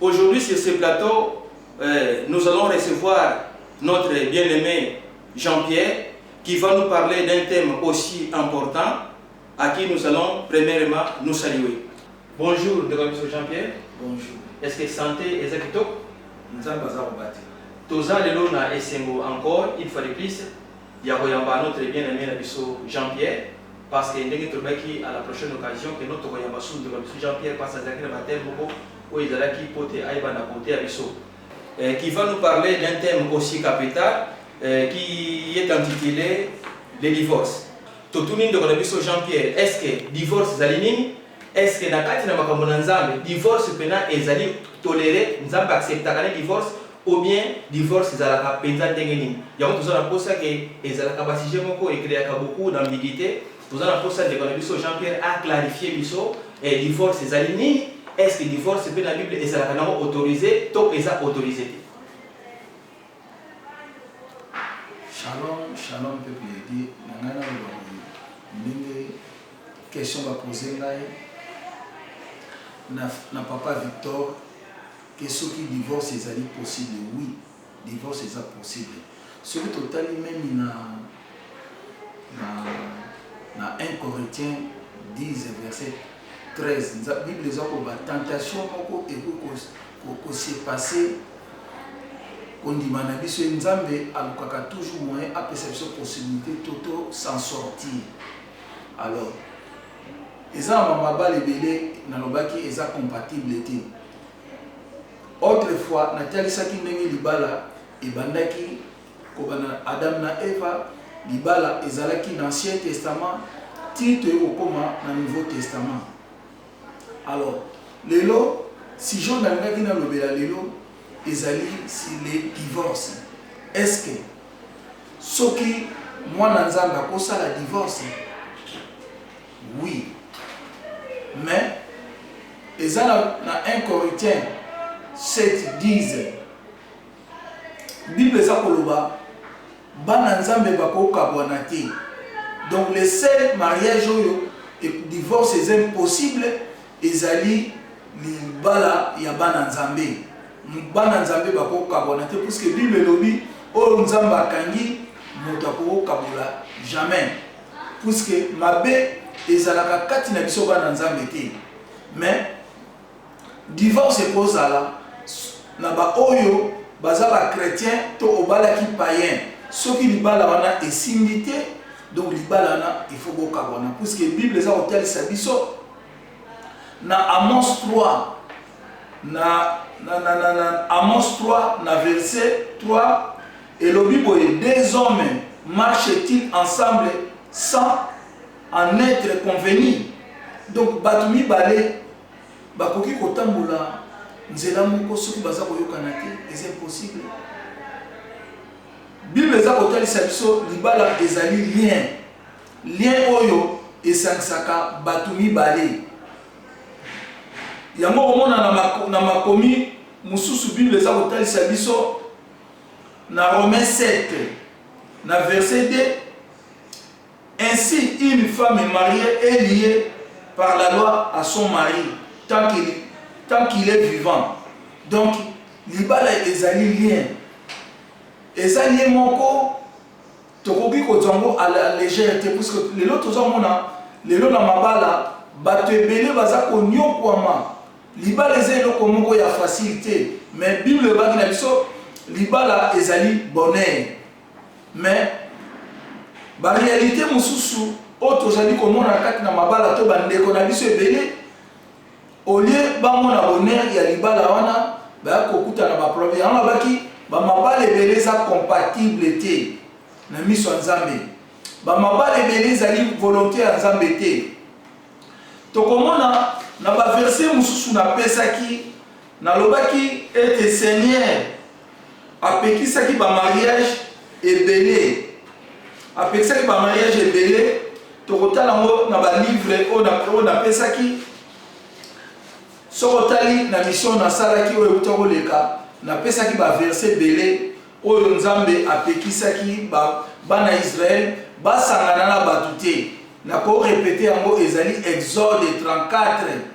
Aujourd'hui sur ce plateau nous allons recevoir notre bien aime Jean Pierre qui va nous parler d'un thème aussi important à qui nous allons premièrement nous saluer. Bonjour ndeko na biso Jean Pierre. Bonjour. Est-ce que santé eza kitoko? Nzambe aza kobatela. Toza lelo na esengo encore une fois de plus ya koyamba notre bien aime na biso Jean Pierre parce que ndenge tolobaki à la prochaine occasion que no tokoyamba su ndeko na biso Jean Pierre parce azalaki na ba thèmes moko oyo ezalaki mpo te ayeba na kote ya biso qui va nous parler d'un thème aussi capital euh, qui est intitulé le divorce totuni ndeko na biso Jean Pierre est-ce que divorce ezali nini Est-ce que na kati na makambo na Nzambe, divorce pena ezali tolerer? Nzambe acceptaka nde divorce? Ou bien divorce ezalaka penza ndenge nini? Yango toza na posa que ezalaka ba sujets moko e creaka beaucoup d'ambiguites. Toza na posa ndeko na biso Jean Pierre a clarifier biso eh, divorce ezali nini? Est-ce que divorce pe na Bible ezalaka na yango autorise to eza autorise te? Shalom, shalom peuple ya Dieu, na ngai naloba boye, ndenge Question ba pose ngai na papa Victor ke soki divorce ezali possible oui divorce eza possible soki totali meme na na 1 Corinthiens 10 verset 13 bible eza ko ba tentation moko ekoki ko se passer kondima na biso ye nzambe alukaka toujours moyen apesa biso possibilité to to s'en sortir Alors eza na ba mabala ebele na lobaki eza compatible te. Autre fois na talisaki ndenge libala ebandaki kobanda Adam na Eva, libala ezalaki na ancien testament ti toye kokoma na nouveau testament. Alors lelo sujet oyo nalingaki nalobela lelo ezali sur le divorce. Est ce que soki mwana Nzambe akosala divorce? Oui. Mais eza na, na 1 Corinthiens 7 10 Bible eza koloba Bana nzambe bako kabwana te donc le seul mariage oyo divorce eza impossible ezali libala ya bana nzambe bana nzambe bako kabwana te puisque bible elobi oyo nzambe akangi moto akoko kabola jamais puisque mabe ezalaka kati na biso bana nzambe te mais Divorce eko zala na ba oyo baza ba chretiens to obalaki paien soki libala wana esimbi te donc libala wana il faut bo kabwana puisque bible eza ko talisa biso na Amos 3 na na na na, na Amos 3 na verset 3 elobi boye deux hommes marchent-ils ensemble sans en etre convenu donc batu mibale bakoki kotambola nzela moko soki baza koyokana te eza impossible bible eza kotalisa biso libala ezali lien lien oyo esangisaka bato mibale yango komona na makomi mosusu bible eza kotalisa biso na romain 7 na verset 2 Ainsi, une femme marie est lie par la loi à son mari tant que tant qu'il est vivant donc libala ezali lien eza lien moko tokoki kozwa yango à la legère te puisque lelo tozo mona lelo na mabala batu ebele baza koniokuama libala eza eloko moko ya facile te mais bible elobaki na biso libala ezali bonheur Mais ba realites mosusu oyo tozali komona na kati na mabala to bandeko na biso ebele au lieu bamona bonheur ya libala wana baya kokuta na baproblème yango abaki bamabala ebele eza compatible te na miso ya nzambe bamabala ebele ezali volonté ya nzambe te tokomona na baverse mosusu napesaki nalobaki ete seigneur Apekisaki ba mariage ebele apekisaki ba mariage ebele tokotala yango na ba livre oyo napesaki soki otali na mission nasalaki oyo euta koleka napesaki ba verse ebele oyo nzambe apekisaki bana israele basangana na bato te nakorepete yango ezali exode 34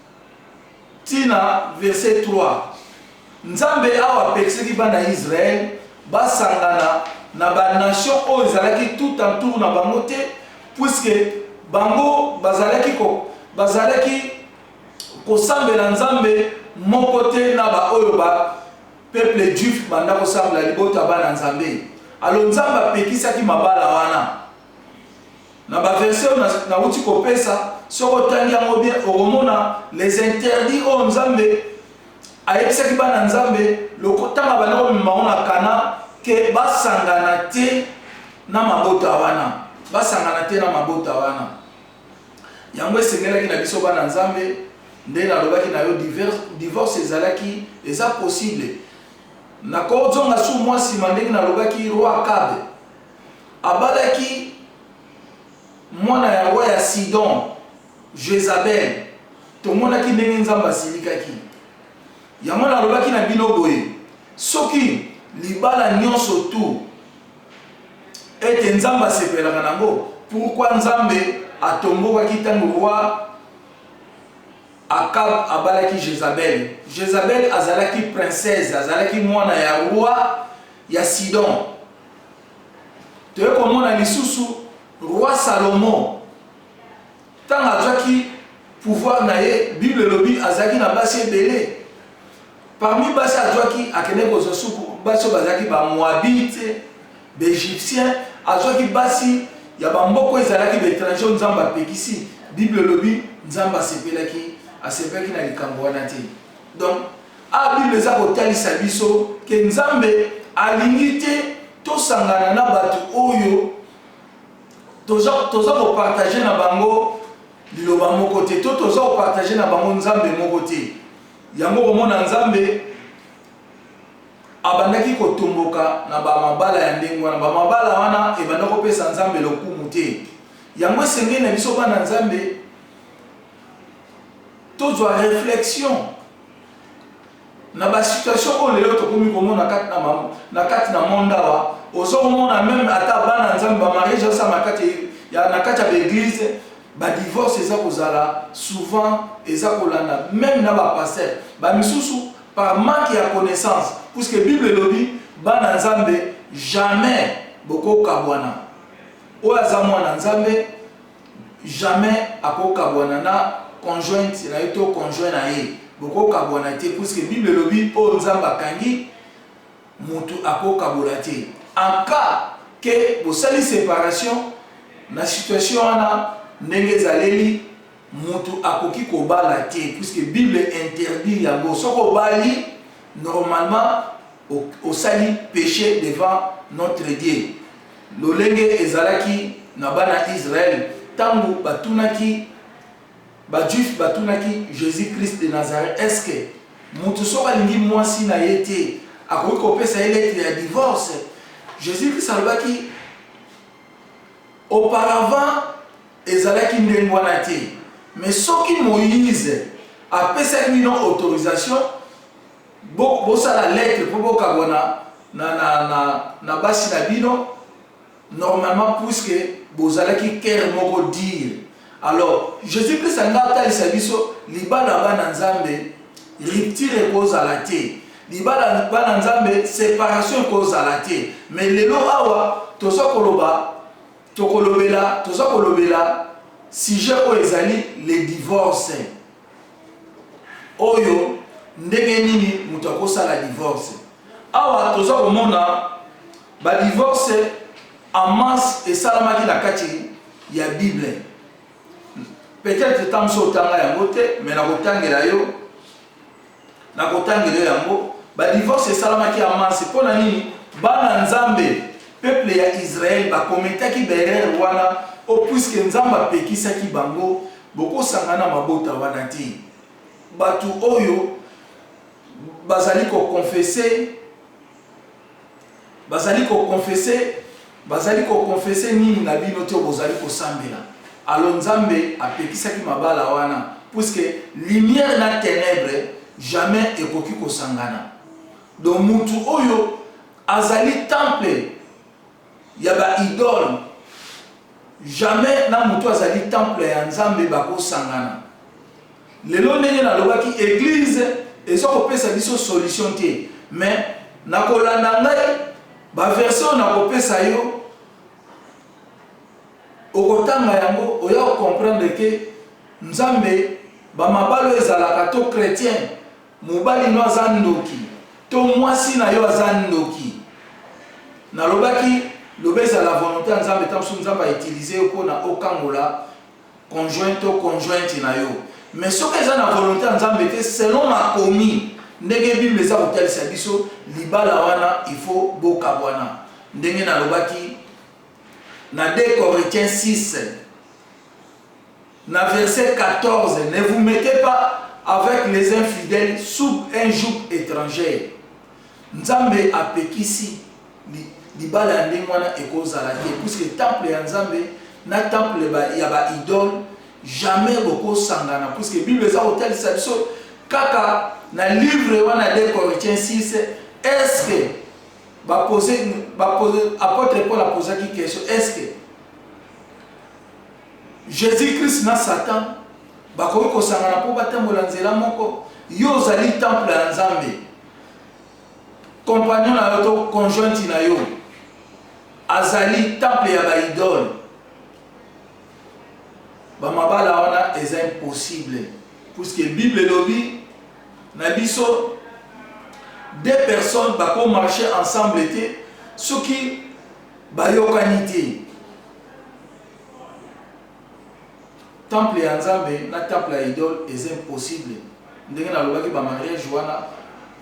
tii na verse 3. Nzambe awa apekisaki bana Israël basangana na ba nation oyo ezalaki tout en tour na bango te, puisque bango bazalaki ko bazalaki kosambela Nzambe moko te na ba oyo ba peuple juif banda kosambela libota bana Nzambe. Alors Nzambe apekisaki mabala wana. Na ba verset oyo nawuti kopesa, soki otangi yango bien, okomona les interdits oyo Nzambe ayebisaki bana Nzambe lokotanga banda komema bango na Kana ke basangana te na mabota wana, basangana te na mabota wana. Yango esengelaki na biso bana Nzambe, nde nalobaki na yo divorce ezalaki eza possible. Nakozonga sur mwa sima ndenge nalobaki roi Akabe. Abalaki mwana yango ya Sidon, Jezabele. Tomonaki ndenge Nzambe asilikaki. Yango nalobaki na bino boye, soki libala nyonso tout ete Nzambe asepelaka na yango, pourquoi Nzambe atombokaki ntango roi Akab abalaki Jezabele? Jezabele azalaki princesse, azalaki mwana ya roi ya Sidon. toye komona lisusu roi salomo ntango azwaki pouvoir na ye bible elobi azalaki na basi ebele parmi basi azwaki akende kozwa suku basi oyo bazalaki bamoabite baegyptien azwaki basi ya bamboko ezalaki baétranger oyo nzambe apekisi bible elobi nzambe asepelaki asepelaki na likambo wana te Donc awa bible eza kotalisa biso ke nzambe alingi te tosangana na batu oyo toza toza ko partager na bango liloba moko te to toza ko partager na bango nzambe moko te yango komona nzambe abandaki kotomboka na ba mabala ya ndenge wana ba mabala wana ebanda kopesa nzambe lokumu te yango esengeli na biso bana nzambe Tozwa reflexion na ba situation oyo lelo tokomi komona kati na na kati na monde awa ozo komona meme ata bana nzambe ba mariage asa na kati ya na kati ya l'église ba divorce eza kozala souvent eza kolanda meme na ba pasteur ba misusu par manque ya connaissance puisque bible elobi bana nzambe jamais bokokabwana oyo aza mwana nzambe Jamais ako kabwana na conjointe naye to conjoint naye boko kabwana te puisque bible elobi oyo nzambe akangi mutu ako kabola te en cas que bosali separation na situation wana ndenge ezaleli mutu akoki kobala te puisque bible interdit yango soki obali normalement Osali peche devant notre Dieu, lolenge ezalaki na bana Israël tangu batunaki ba juifs batunaki Jesus Christ de Nazareth est ce que mutu soki alingi muasi na ye te akoki kopesa ye lettre ya divorce? Jesus Christ alobaki auparavant ezalaki ndenge wana te mais soki Moïse apesaki bino autorisation Bo bosala lettre po bokabwana na na na na basi na bino normalement puisque bozalaki coeur moko dire alors Jesus Christ alingi atalisa biso libala bana nzambe rupture ekozala te libala bana nzambe separation ekozala te mais lelo awa toza koloba tokolobela toza kolobela sujet oyo ezali le divorce oyo ndenge nini moto akosala divorce awa toza komona badivorce en masse esalamaki na kati ya bible peut-être ntango so otanga yango te me nakotangela yo Na kotangela yo yango, ba divorce esalamaki en masse pona nini? Bana Nzambe, peuple ya Israël ba commetaki ba erreurs wana oh puisque Nzambe apekisaki bango, bokosangana na mabota wana te. Batu oyo bazali ko confesser. Bazali ko confesser bazali ko confesser nini na bino te oyo bozali kosambela? Alors Nzambe apekisaki mabala wana puisque lumière na tenèbres jamais ekoki kosangana. Donc mutu oyo azali temple ya ba idole jamais na mutu azali temple ya nzambe bako sangana lelo ndenge na lobaki eglise eza kopesa biso solution te mais na kolanda ngai ba verse oyo na kopesa yo okotanga yango oya ko comprendre ke nzambe ba mabalo ezalaka to chretien Mobali no aza ndoki to mwasi na yo aza ndoki nalobaki loba ezala volonte ya nzambe ta mosusu nzambe a utilise yo po na okangola conjoint to conjointe na yo mais soki eza na volonte ya nzambe te selon makomi ndenge bible eza kotalisa biso libala wana il faut bokabwana ndenge nalobaki na 2 corinthiens 6 Na verset 14, Ne vous mettez pas avec les infidèles sub un joug etranger. Nzambe apekisi libala ya ndenge wana ekozala te puisque temple ya Nzambe na temple ya ba idole jamais bokosangana puisque Bible eza kotalisa biso kaka na livre wana 2 Corinthiens 6 est-ce que ba poser ba poser apôtre Paul a posaki question est-ce que Jesus-Christ na Satan bakoki kosangana mpo batambola nzela moko? Yo ozali temple ya Nzambe. Compagnon na yo to conjointe na yo azali temple ya baidole. Bamabala wana eza impossible puisque Bible elobi na biso deux personnes bako marche ensemble te soki bayokani te Temple ya Nzambe na temple ya idole eza impossible ndenge na lobaki ba mariage wana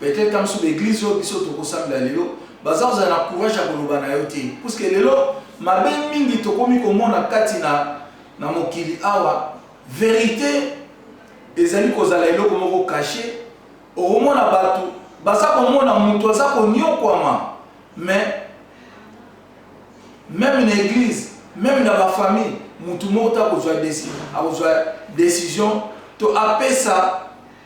peut-etre ta musu ba eglise oyo biso toko sambela lelo baza kozala na courage ya koloba na yo te puisque lelo mabe mingi tokomi komona kati na na mokili awa verite ezali kozala eloko moko cache okomona bato baza komona moto aza konyokwama mais Meme na eglise, meme na ba famille, mutu moko te akozua deci, akozua decision to apesa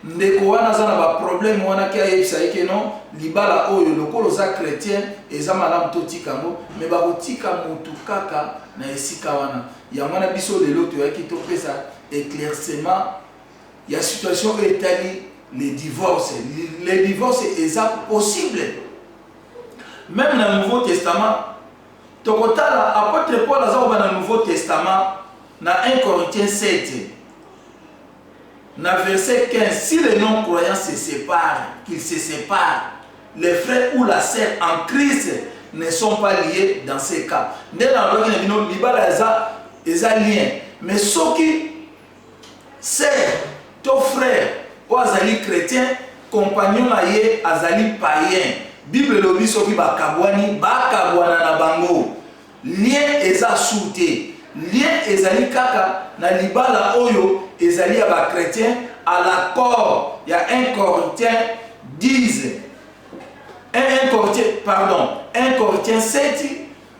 ndeko wana aza na ba problème wana ke ayebisa ye ke non libala oyo lokola oza chretien eza malamu totika yango mais bakotika mutu kaka na esika wana. Yango wana biso lelo toyaki topesa eclaircement ya situation oyo etali le divorce. Le divorce eza possible Meme na nouveau testament tokotala apotre Paul aza koba na nouveau testament na 1 Corinthiens 7 na verset 15 si les non croyants se séparent qu'ils se séparent les frères ou la sœur en Christ ne sont pas liés dans ces cas nde na lobaki na bino libala eza eza lien mais soki Sœur to frère oyo azali chretien, compagnon na ye azali païen, Bible elobi soki bakabwani, bakabwana na bango. Lien eza sure te. Lien ezali kaka na libala oyo ezali ya ba chretiens à l'accord ya un Corinthien 10, un Corinthien, pardon, un Corinthien 7,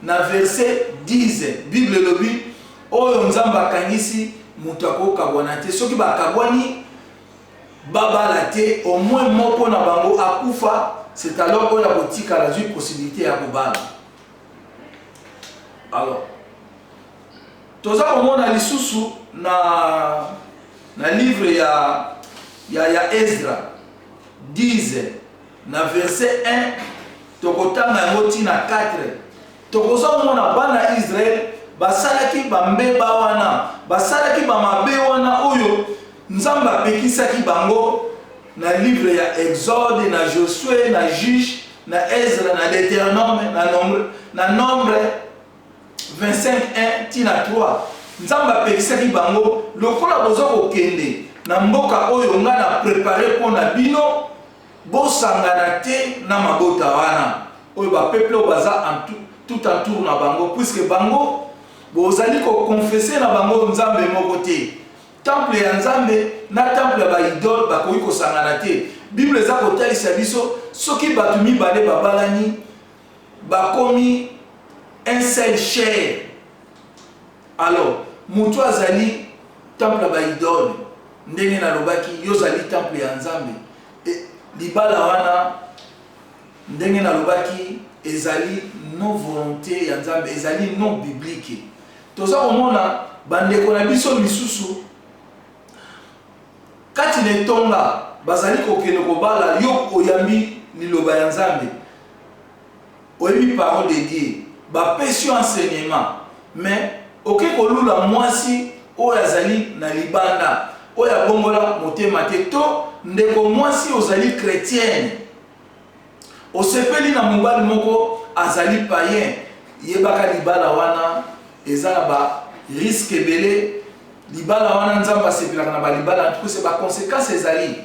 Na verse 10, Bible elobi, Oyo Nzambe akangisi, moto ako kabwana te. Soki ba kabwani ba bala te, au moins moko na bango akufa, c'est alors oyo ako tikala azui possibilite ya ko bala. Alors, toza ko mona lisusu na, na livre ya, ya, ya Ezra 10, Na verse 1, tokotanga yango ti na 4, tokozo mona bana Israël basalaki ba mbeba wana, basalaki ba mabe wana oyo Nzambe apekisaki bango na livre ya Exode, na Josue, na Juge, na Ezra, na Deuteronome, na Nombre, na Nombre 25 1 ti na 3. Nzambe apekisaki bango lokola bozo kokende na mboka oyo nga na prepare pona bino, Bosangana te na mabota wana oyo ba peuples oyo baza tout entour na bango, puisque bango bozali ko confesser na bango Nzambe moko te. Temple ya Nzambe na temple ya ba idoles bakoki kosangana te. Bible eza kotalisa biso soki batu mibale babalani bakomi un seul chair, alors mutu azali temple ya ba idoles. Ndenge nalobaki, y'ozali temple ya Nzambe. E, libala wana, ndenge nalobaki, ezali non volonte ya Nzambe, ezali non biblique. Toza komona bandeko na biso misusu kati na etonga bazali kokende kobala, yo oyambi liloba ya Nzambe. Oyebi parole de Dieu ba pesi yo enseignement mais oke ko lula muasi oyo azali na libanda oyo abongola motema te to ndeko muasi ozali chretienne osepeli na mobali moko azali paien yebaka libala wana eza na ba risque ebele libala wana nzambe asepelaka na ba libala antuka se ba consequence ezali.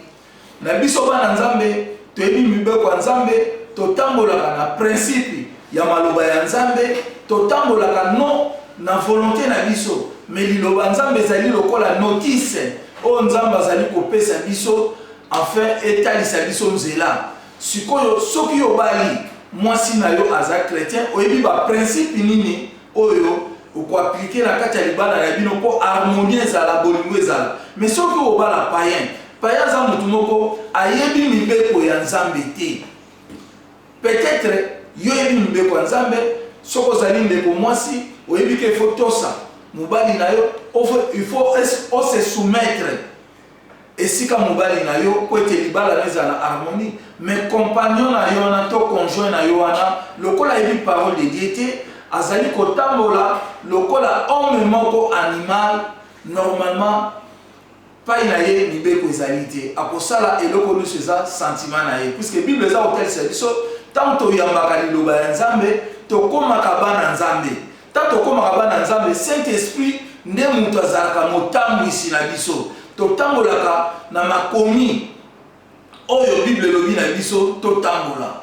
Na biso bana Nzambe, toyebi mibeko ya Nzambe, totambolaka na principe ya maloba ya Nzambe, totambolaka non na volonte na biso, mais liloba Nzambe ezali lokola notice oyo Nzambe azali kopesa biso afin etalisa biso nzela. Sikoyo soki yo obali, mwasi na yo aza chretien, oyebi ba principe nini oyo oko appliquer na kati ya libala na bino po harmonie ezala bolingo ezala mais soki oyo obala paien paien aza mutu moko ayebi mibeko ya nzambe te peut etre yo oyebi mibeko ya nzambe soki ozali ndeko mwasi oyebi ke faut tosa mobali na yo il faut ose soumettre esika mobali na yo mpo ete libala na yo ezala na harmonie. Mais compagnon na yo wana to conjoint na yo wana lokola ayebi parole de Dieu te, azali kotambola lokola homme moko animal, normalement epayi na ye mibeko ezali te. Akosala eloko nyonso eza sentiment na ye. Puisque Bible eza kotalisa biso tango toyambaka liloba ya Nzambe, tokomaka bana Nzambe. Ntango tokomaka bana Nzambe, Saint-Esprit nde moto azalaka motambwisi na biso. Totambolaka na makomi oyo Bible elobi na biso totambola.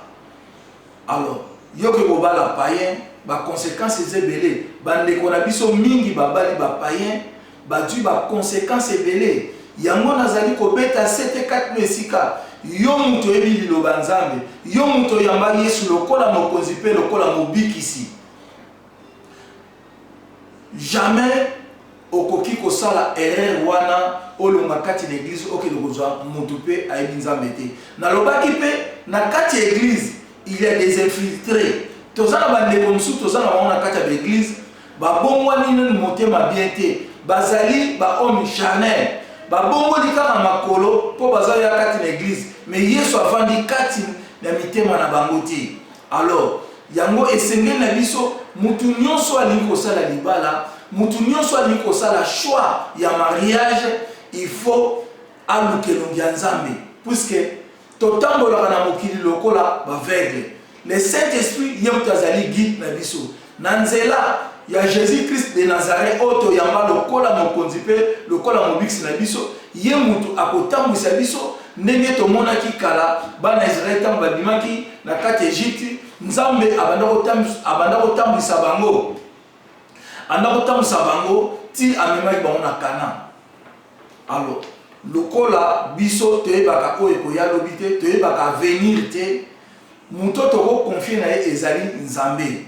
Alors, yoke kobala païen, ba consequences eza ebele. Bandeko na biso mingi babali ba païen, bazwi ba consequences ebele. Yango nazali kobeta sete kati na esika yo moto oyebi liloba Nzambe, yo moto oyamba Yesu lokola mokonzi mpe lokola mobikisi. Jamais okoki kosala erreur wana olonga kati na eglise okende kozwa mutu pe ayebi Nzambe te. Nalobaki pe na kati ya eglise il ya des infiltres. Toza na ba ndeko mosusu toza na bango na kati ya ba eglise ba bongwani nanu motema bien te. Bazali ba homme charnel. Ba bongoli kaka makolo po baza ya kati na eglise mais Yesu avandi kati na mitema na bango te. Alors, yango esengeli na biso, mutu nionso oyo alingi kosala libala, mutu nionso oyo alingi kosala choix ya mariage, il faut aluka elongi ya Nzambe. Puisque totambolaka na mokili lokola b'aveugles. Le Saint-Esprit ye mutu azali guide na biso. Na nzela ya Jesus-Christ de Nazareth oyo toyamba lokola Mokonzi mpe lokola Mobikisi na biso, Ye mutu akotambwisa biso, ndenge tomonaki kala bana ya Israel tango babimaki na kati ya Egypte, Nzambe abanda kotambwisa bango, abanda kotambwisa bango tii amemaki bango na Canaan. Alors, lokola biso toyebaka oyo ekoya lobi te, toyebaka avenir te, Moto toko confier na ye ezali Nzambe.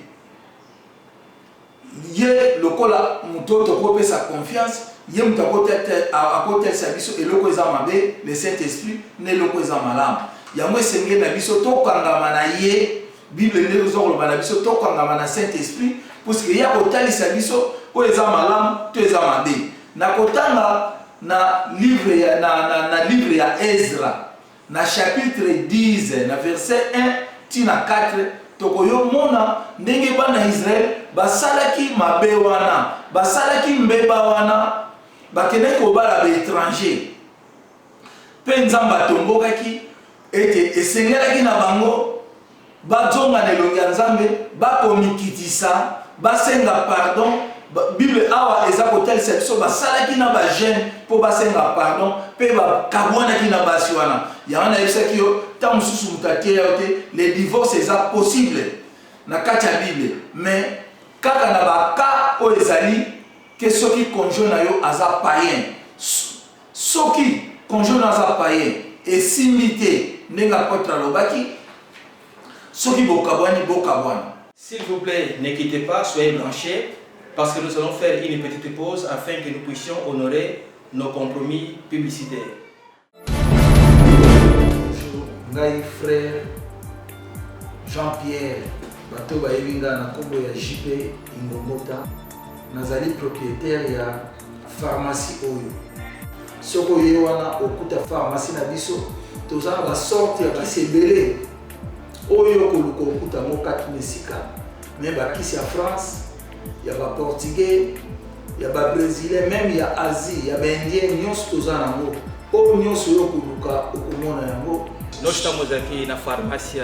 Ye lokola moto oyo toko pesa confiance, ye moto ako talisa biso eloko eza mabe, le Saint Esprit, na eloko eza malamu. Yango esengeli na biso to kangama na ye. Bible nde ezo loba na biso to kangama na Saint Esprit puisque ye ako talisa biso oyo eza malamu to eza mabe. Nako tanga na livre ya Ezra. Na chapitre X, na verset 1 tii na 4, tokoyo mona ndenge bana ya Israël basalaki mabe wana, basalaki mbeba wana, bakendaki kobala ba etrangers. Mpe Nzambe atombokaki ete esengelaki na bango Bazonga na elongi ya Nzambe, bakomikitisa, basenga pardon, Bible awa eza kotalisa biso basalaki na ba jeune po basenga pardon pe bakabuanaki na basi wana. Yango nayebisaki yo tango mosusu moto ateya yo te le divorce eza possible na kati ya Bible mais kaka na ba cas oyo ezali ke soki conjoint na yo aza paien Soki conjoint nayo aza paien, esimbi te, ndenge apotre alobaki, soki bokabuani, bokabuana. S'il vous plait ne quittez pas soyez branches parce que nous allons faire une petite pause afin que nous puissions honorer nos compromis publicitaires. Bonjour, ngai frère Jean Pierre, bato bayebi ngai na kombo ya JP Ingomota, nazali proprietaire ya pharmacie oyo soki oye wana okuta pharmacie na biso toza na basorte ya kisi ebele oyo okoluka okuta yango kati na esika me bakisi ya france ya baportugais ya babrésilien meme ya asie ya baindien nyonso toza nango oyo nyonso oyo okoluka okomona yango notango ozalaki na pharmacie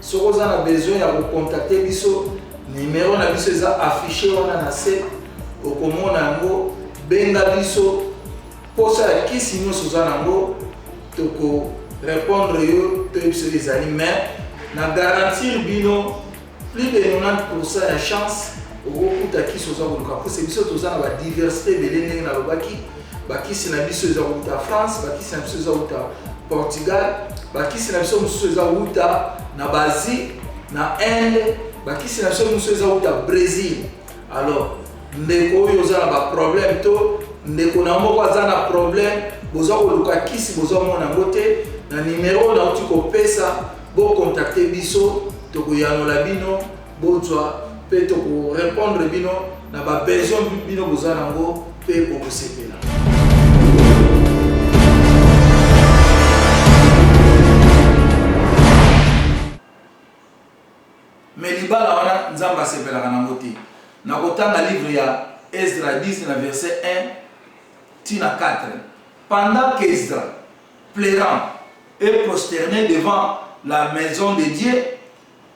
Soki oza na besoin ya ko contacter biso, numero na biso eza afficher wana na se, okomona yango, benga biso, posa ya kisi nionso oza na yango, toko repondre yo, toyebisa yo ezali, mais na garantir bino plus de 90% ya chance okokuta kisi oza koluka, po se biso toza na ba diversite ebele ndenge nalobaki, bakisi na biso eza wuta france bakisi na biso eza wuta portugal bakisi na biso mosusu eza wuta na basie na inde bakisi na biso mosusu eza wuta brésil alors ndeko oyo oza na baproblème to ndeko na moko aza na problème boza koluka kisi boza mona yango te na nimero nauti kopesa bokontakte biso tokoyanola bino Bozwa pe toko repondre bino na ba besoin bino boza na ngo pe bokosepela. Mais libala wana Nzambe asepelaka na ngo te. Na kotanga livre ya Esdra 10 na verset 1 ti na 4. Pendant qu'Esdra pleurant et prosterné devant la maison de Dieu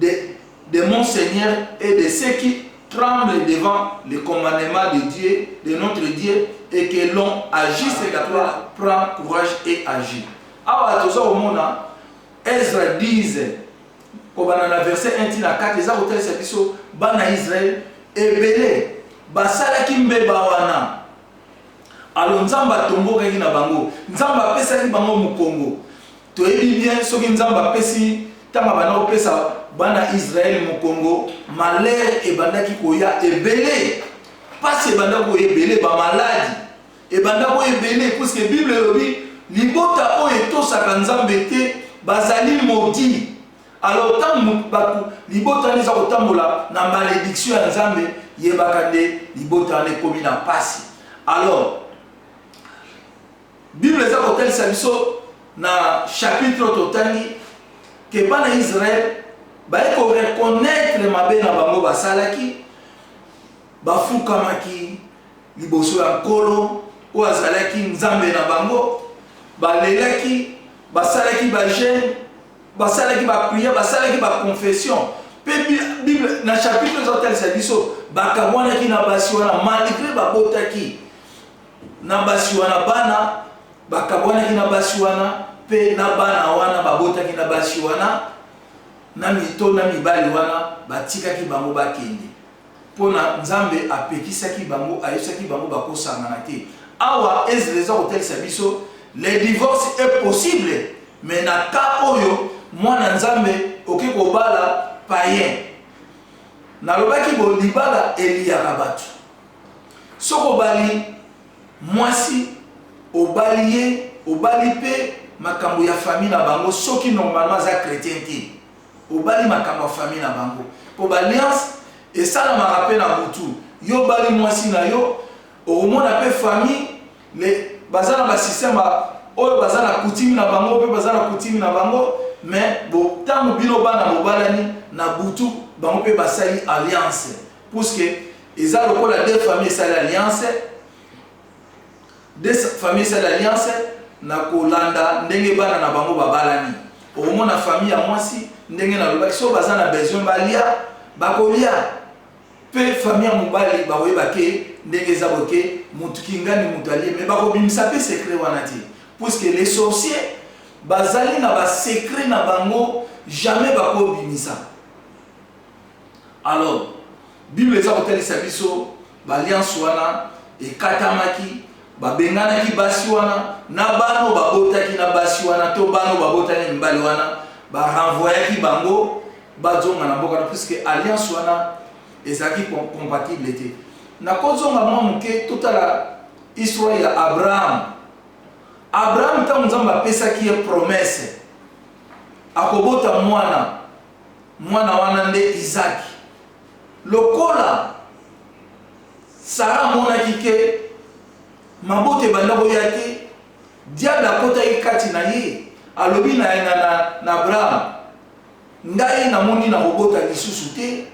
de, de mon Seigneur et de ceux qui tremblent devant le commandement de Dieu, de notre Dieu, et que l'on agisse d'après, prend courage et agit. Awa toza komona Ezra 10 kobanda na verset 1 tina 4 eza kotalisa biso bana Israël ebele basalaki mbeba wana alo nzambe atombokaki na bango nzambe apesaki bango mokongo Toyebi bien soki nzambe apesi tango abanda kopesa bana Israël mokongo malheur ebandaki koya ebele pasi ebanda koya ebele ba maladi ebanda koya ebele puisque bible elobi libota oyo etosaka nzambe te bazali modi alors ntango bato libota wana eza kotambola na malediction ya nzambe yebaka nde libota wana ekomi na pasi alors Bible eza kotalisa biso na chapitre oyo totangi ke bana ya Israel baye ko reconnaitre mabe na bango basalaki, bafukamaki liboso ya Nkolo oyo azalaki Nzambe na bango, balelaki, basalaki ba jeune, basalaki ba prière, basalaki ba confession. Pe Bible na chapitre ezo talisa biso bakabwanaki na basi wana malgre babotaki Na basi wana, bana bakabwanaki na basi wana, mpe na bana wana babotaki na basi wana, na mito na mibali wana, batikaki bango bakende, mpo na Nzambe apekisaki bango, ayebisaki bango bakosangana te. Awa Ezra eza kotalisa biso le divorce est possible, mais na cas oyo mwana Nzambe oke kobala païen. Nalobaki bo libala eliyaka bato. Soki obali mwasi obali ye obali pe makambu ya famille na bango soki normalement aza chretien te obali makambu ya famille na bango po ba alliance esalamaka pe na butu yo obali mwasi na yo okomona pe famille le baza na ba système ba oyo baza na coutume na bango pe baza na coutume na bango mais bo tangu bino bana bobalani na butu bango pe basali alliance Puisque eza lokola deux familles esali alliance, deux familles esali alliance na kolanda ndenge bana na bango babalani. Okomona famille ya mwasi ndenge nalobaki, soki baza na besoin balia, bakolia mpe famille ya mobali bakoyeba ke ndenge eza boye ke motu kingani motu alie, me bakobimisa mpe secret wana te puisque les sorciers bazali na basecret na bango jamais bakobimisa. Alors, Bible eza kotalisa biso ba alliance wana ekatamaki, babenganaki basi wana na bana oyo babotaki na basi wana to bana oyo babotaki na mibali wana, ba renvoyaki bango bazonga na mboka na puisque alliance wana ezalaki compatible te. Nakozonga mwa moke totala histoire ya Abraham. Abraham ntango Nzambe apesaki ye promesse akobota mwana, Mwana wana nde Izaki. Lokola Sara amonaki ke mabota ebanda koya te, diable akotaki kati na ye, alobi na, na, na, na Abraham, Ngai namoni nakobota lisusu te,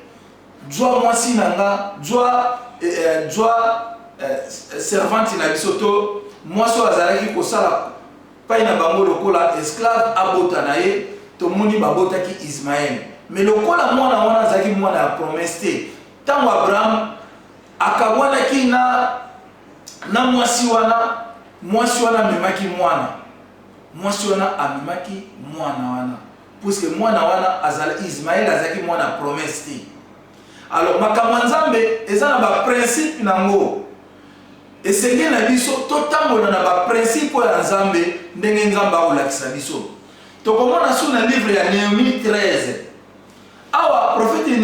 zwa mwasi na nga, zwa, eh, eh, zwa eh, servante na biso, to mwasi oyo azalaki kosala Epai na bango lokola esclave abota na ye, tomoni babotaki Ismaele. Mais lokola mwana wana azalaki mwana ya promesse te, tango Abraham akabwanaki na, na mwasi wana, mwasi wana amemaki mwana. Mwasi wana amemaki mwana wana, puisque mwana wana azala, Ismaele azalaki mwana ya promesse te. Alors makambo ya Nzambe eza na ba principe na ngo. Esengeli na biso totambola na ba principe oyo ya Nzambe ndenge Nzambe akolakisa biso. Tokomona su na livre ya Nehemie 13. Awa profete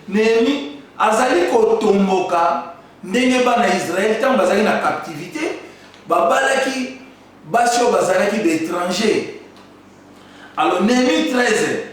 Nehemie azali kotomboka ndenge bana ya Israele ntango bazali na captivité babalaki basi oyo bazalaki baétranger. Alors Nehemie 13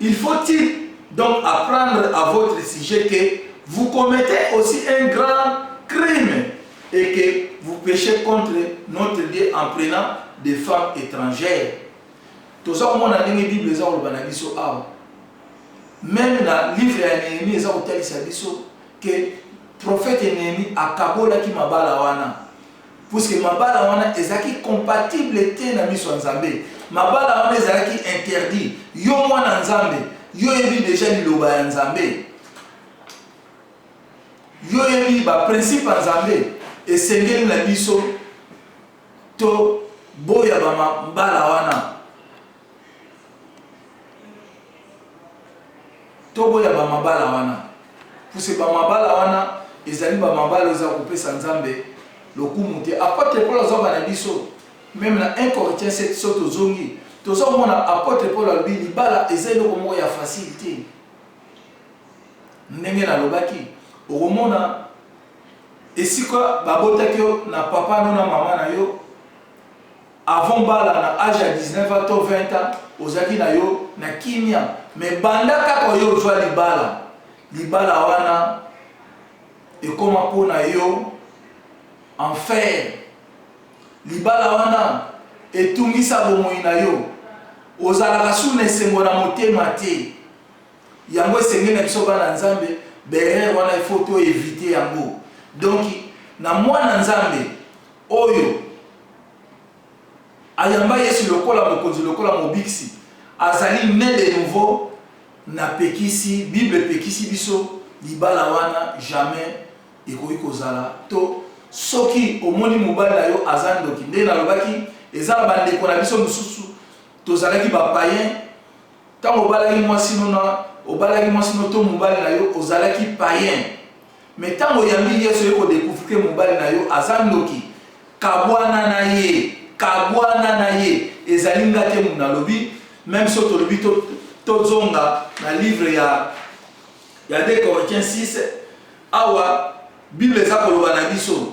Il faut il donc apprendre à votre sujet que vous commettez aussi un grand crime et que vous pechez contre notre Dieu en prenant des femmes étrangères. Toza komona ndenge Bible eza koloba na biso awa. Même na livre ya Nehemie eza kotalisa biso que prophète Nehemie akabolaki mabala wana. Puisque mabala wana ezalaki compatible te na miso ya Nzambe, mabala wana ezalaki interdit. Yo mwana Nzambe, yo oyebi dejà liloba ya Nzambe? Yo oyebi ba principe ya Nzambe? Esengeli na biso to boya ba mabala wana. Toboya ba mabala wana puisque ba mabala wana ezali ba mabala oyo eza kopesa Nzambe lokumu te. Apotre Paul azo yamba na biso meme na 1 Corinthiens 7 soki tozongi tozo komona apotre Paul alobi libala eza eloko moko ya facile te. Ndenge nalobaki okomona esika babotaki yo na papa no na mama na yo Avant obala na age ya 19 ans to 20 ans ozalaki na yo na kimia mais banda kaka oye ozua libala, libala wana ekoma po na yo enfer, libala wana etungisa bomoyi na yo, ozalaka su na esengo na motema te. Yango esengeli na biso bana Nzambe ba erreurs wana il faut to eviter yango. Donc na mwana Nzambe oyo. Ayamba Yesu lokola Mokonzi, lokola Mobikisi. Azali ne de nouveau na pekisi, Bible epekisi biso libala wana jamais ekoki kozala to soki omoni mobali na yo aza ndoki nde nalobaki eza na bandeko na biso mosusu tozalaki ba païen ntango obalaki mwasi nona obalaki mwasi no to mobali na yo ozalaki païen Mais tango oyambi yesu oye ko decouvrir que mobali na yo aza ndoki kabuana na ye kabuana na ye ezali nga te mutu nalobi meme soki tolobi tozonga na livre ya ya 2 corinthiens 6 awa bible eza koloba na biso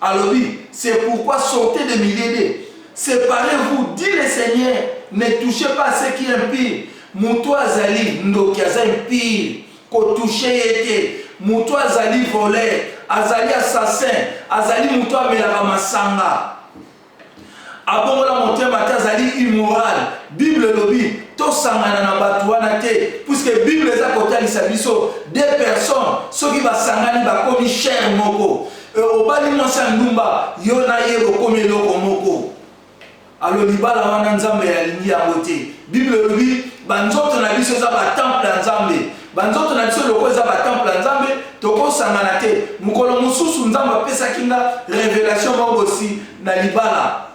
Alobi, c'est pourquoi sortez des milliers de, separez-vous, dit le Seigneur, ne touchez pas à ce qui est impur. Moto oyo azali ndoki aza impur, ko toucher ye te. Moto oyo azali voleur, azali assassin, azali moto oyo amelaka masanga. Abongola motema te azali immoral. Bible elobi tosangana na batu wana te puisque bible eza kotalisa biso deux personnes soki basangani bakomi chair moko. Euh, obali mwasi ya ndumba yo na ye bokomi eloko moko. Alo libala wana Nzambe alingi yango te. Bible elobi banzoto na biso eza batemple ya Nzambe. Ba nzoto na biso lokola eza ba temple ya Nzambe, toko sangana te. Mokolo mosusu Nzambe apesaki nga revelation moko bosi na libala.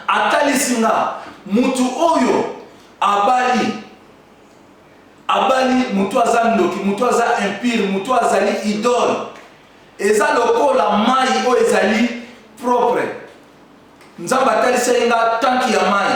Atalisi nga mutu oyo abali, abali mutu aza ndoki, mutu aza impur, mutu azali idole. Eza lokola mayi oyo ezali propre. Nzambe atalisaki nga tanki ya mayi.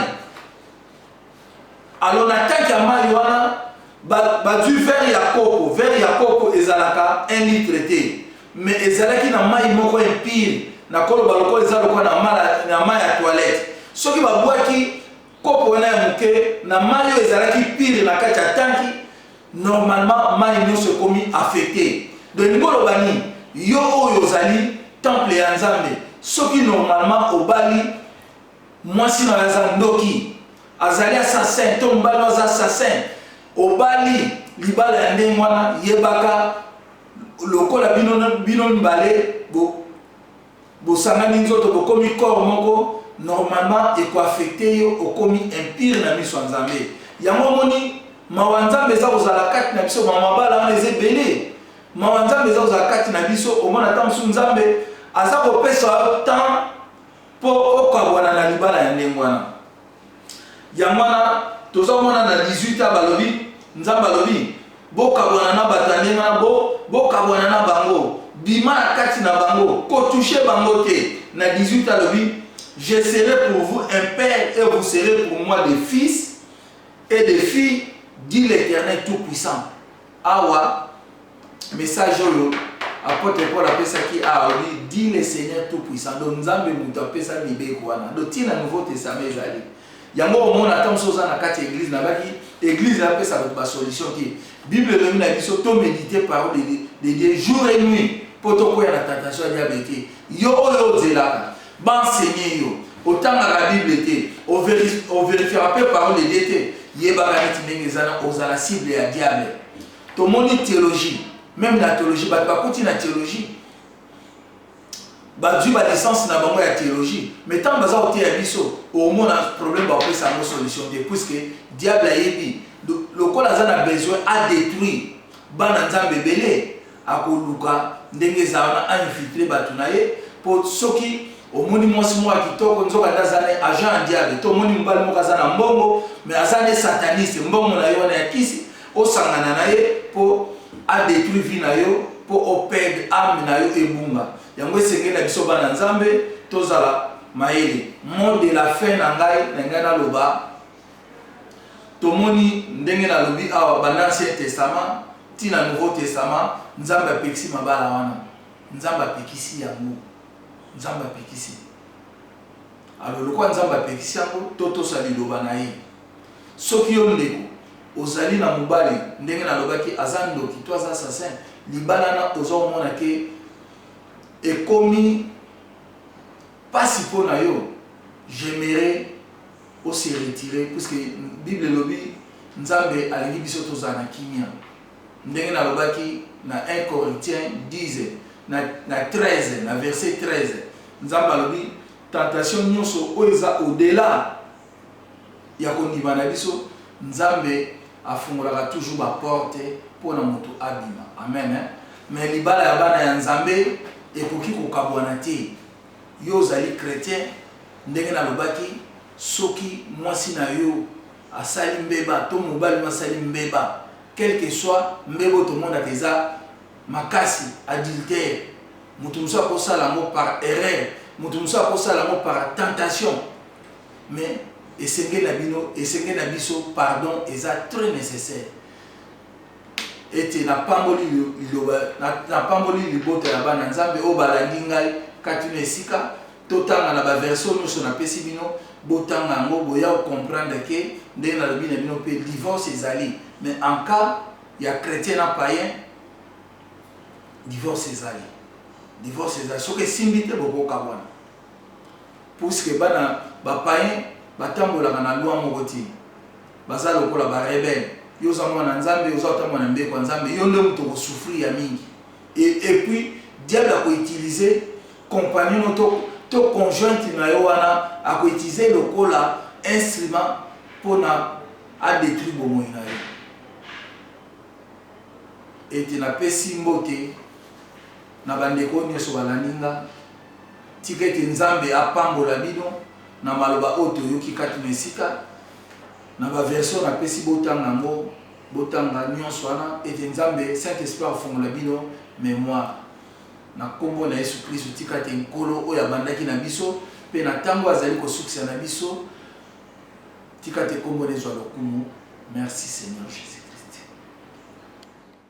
Alors na tank ya mayi wana ba bazui verre ya coco, verre ya coco ezalaka un litre te mais ezalaki na mayi moko impure, nakoloba lokola eza lokola na mala na mayi ya toilette. Soki ba bwaki kopo wana ya moke na mayi oyo ezalaki pure na kati ya tanki, normalement mayi nionso ekomi affecte. Donc elingi oloba nini? Yo oyo ozali temple ya Nzambe, soki normalement obali, Mwasi nayo aza ndoki azali assassin to mobali nayo aza assassin obali libala ya ndenge wana yebaka lokola bino bino mibale bo bosangani nzoto bokomi corps moko normalement eko affecte yo okomi impire na miso ya nzambe yango omoni mawa nzambe eza kozala kati na biso mawa mabala wana eza ebele mawa nzambe eza kozala kati na biso omona ata mosusu nzambe aza kopesa yo temps Mpo okabwana na libala ya ndenge wana. Yango wana toza komona na 18 ans balobi, Nzambe alobi, bokabwana na bato ya ndenge wana, bo, bokabwana na bango, bima na kati na bango, ko toucher bango te. Na 18 ans alobi, Je serai pour vous un père et vous serez pour moi des fils et des filles, dit l'Eternel Tout-Puissant. Awa message oyo apotre Paul apesaki awa alobi dit le Seigneur tout puissant donc Nzambe mutu apesa mibeko wana donc ti na nouveau testament ezali yango omona ata mosusu oza na kati ya eglise nabaki eglise apesa bato ba solution te bible elobi na biso to méditer parole de Dieu jour et nuit mpo tokwea na tentation ya diable te yo oyo ozelaka Ba enseigner yo, otangaka bible te, o verifiaka pe parole de Dieu te, yebaka neti ndenge eza na ozala cible ya diable. Tomoni theologie, meme na theologie batu bakoti na theologie, bazui ba licence na bango ya theologie, mais tangu baza koteya biso, okomona problème bakopesa yango solution te, puisque diable ayebi lokola aza na besoin a detruire bana Nzambe ebele, Akoluka ndenge ezala na a infiltrer batu na ye po soki omoni mwasi moko ya kitoko nzoka nde aza ne agent ya diable to omoni mobali moko aza na mbongo mais aza ne sataniste mbongo na ye wana ya kisi osangana na ye po a detruit vie na yo po o perd ame na yo ebunga yango esengeli na biso bana nzambe tozala mayele. Mot de la fin na ngai na lingai na loba. Tomoni, ndenge nalobi awa, banda Ancien Testament tii na Nouveau Testament, Nzambe apekisi mabala wana. Nzambe apekisi yango. Nzambe apekisi. Alors, lokola Nzambe apekisi yango, totosa Liloba na Ye. Soki yo, ndeko, ozali na mobali, ndenge nalobaki, aza ndoki, to aza assassin, libala wana, oza komona ke ekomi pasi po na yo, j'aimerais. o se retirer puisque bible elobi nzambe alingi biso tozala na kimia ndenge na lobaki na 1 corinthiens 10 na na 13 na verset 13 nzambe alobi tentation nyoso oyo eza au delà ya kondima na biso nzambe afungolaka toujours ba porte mpo na moto abima amen hein? mais libala ya bana ya nzambe ekoki kokabwana te Yo ozali chretien ndenge nalobaki soki mwasi na yo asali mbeba to mobali no asali mbeba quel que soit mbeba oyo tomonaka eza makasi adultère mutu mosusu akosala yango par erreur mutu mosusu akosala yango par tentation mais esengeli na bino esengeli na biso pardon eza très necessaire Ete napamboli liloba, napamboli libota ya bana Nzambe oyo balandi ngai kati na esika totanga na ba verse oyo nioso napesi bino, botanga yango boya ko comprendre que ndenge nalobi na bino pe divorce ezali mais en cas ya chretien na paien divorce ezali, divorce ezali soki esimbi te boko kabwana. puisque bana ba paien batambolaka na loi moko te baza lokola ba rebelle yo oza muana nzambe oza kotambola na mibeko ya nzambe yo nde mutu oko souffrir ya mingi et epuis diable ako utilise compagnon no to to conjointe na yo wana ako utilise lokola instrument pona a detruire bomoyi na yo et na pesi mbote na ba ndeko oyo nioso balandi nga. Tika ete Nzambe apambola bino na maloba oyo toyoki kati na esika. Na ba version napesi botanga yango, botanga nionso wana ete Nzambe, Saint Esprit afungola bino memoire. Na kombo na Yesu Klisto, tika ete Nkolo oyo abandaki na biso mpe na tango oyo azali kosukisa na biso, tika ete kombo na ye ezwa lokumu. Merci Seigneur Jesus Christ.